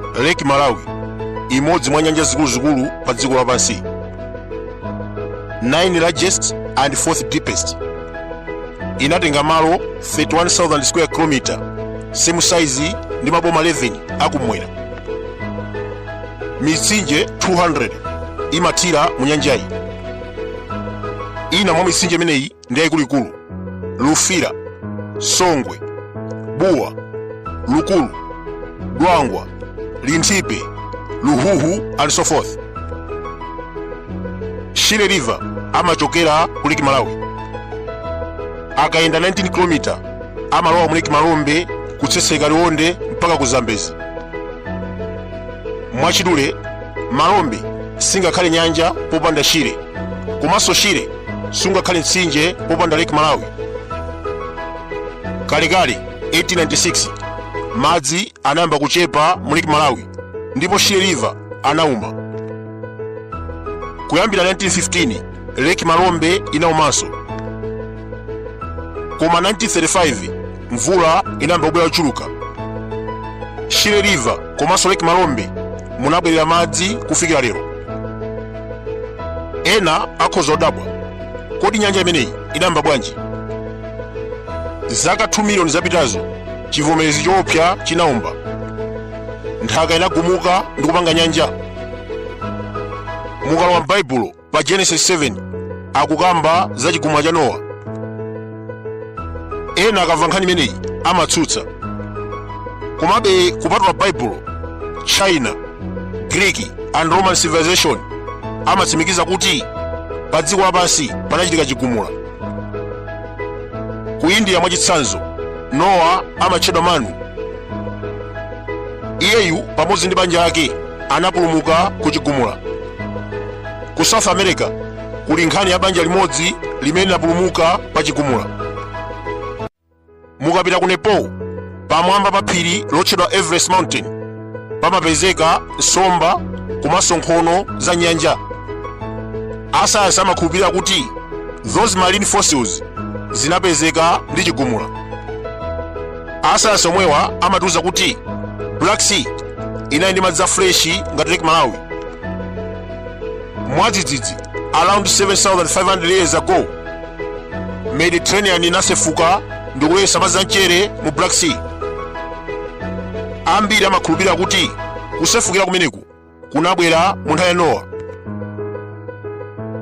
Lake Malawi, imodzi mwa nyanja zikuluzikulu pa dziko lapansi, 9 largest and 4th deepest, inatenga malo 31,000 square kilometer, same size ndi maboma 11 akumwera. Mitsinje 200 imathira mu nyanjayi. Ina mwa mitsinje imeneyi ndi yayikuluikulu lufira songwe buwa lukulu dwangwa linthipe luhuhu and so forth shire river amachokera ku lake malawi akayenda 19 km amalowa mu lake malombe kutsetseka liwonde mpaka ku zambezi mwachidule malombe singakhale nyanja popanda shire komanso shire sungakhale mtsinje popanda lake malawi kalekale 1896 madzi anayamba kuchepa mu lake malawi ndipo shire river anauma kuyambira 1915 lake malombe inaumanso koma 1935 mvula inayamba kubwera yochuluka shire river komanso lake malombe munabwerera madzi kufikira lero ena akhoza kudabwa kodi nyanja imeneyi inayamba bwanji zaka 2 miliyoni zapitazo chivomerezi choopsa chinawomba nthaka inagumuka ndi kupanga nyanja mukalowa m'baibulo pa genesis 7 akukamba za chigumula cha nowa ena akamva nkhani imeneyi amatsutsa komabe kupatula baibulo china greek and roman civilization amatsimikiza kuti pa dziko lapansi panachitika chigumula ku india mwachitsanzo nowa amatchedwa manu iyeyu pamodzi ndi banja lake anapulumuka ku chigumula ku south america kuli nkhani ya banja limodzi limene linapulumuka pa chigumula mukapita ku nepal pamwamba pa phiri lotchedwa everest mountain pamapezeka nsomba komanso nkhono za nyanja asayansi amakhulupirira kuti those marine fossils zinapezeka ndi chigumula asayansi omwewa amatiuza kuti black sea inali ndi madzi a freshi ngati lake malawi mwadzidzidzi around 7500 years ago mediterranean inasefuka ndikulowetsa madzi amchere mu black sea ambiri amakhulupirira kuti kusefukira kumeneku kunabwera mu nthawi ya nowa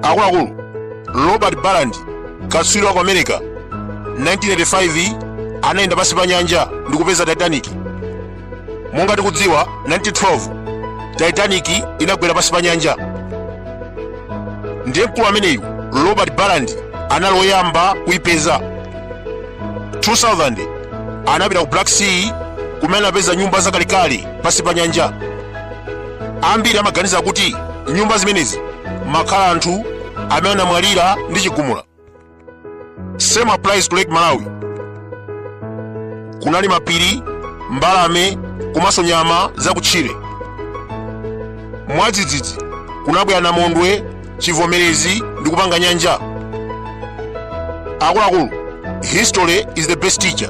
akuluakulu robert ballard katswiri wa ku america 1985 anayenda pansi pa nyanja ndikupeza titanic monga tikudziwa 1912 titanic inagwera pansi pa nyanja ndiye mkulu ameneyu robert ballard anali woyamba kuipeza 2000 anapita ku black sea kumene anapeza nyumba zakalekale pansi pa nyanja ambiri amaganiza kuti nyumba zimenezi munkakhala anthu amene anamwalira ndi chigumula same applies to lake malawi kunali mapiri mbalame komanso nyama zakutchire mwadzidzidzi kunabwera namondwe chivomerezi ndi kupanga nyanja akuluakulu history is the best teacher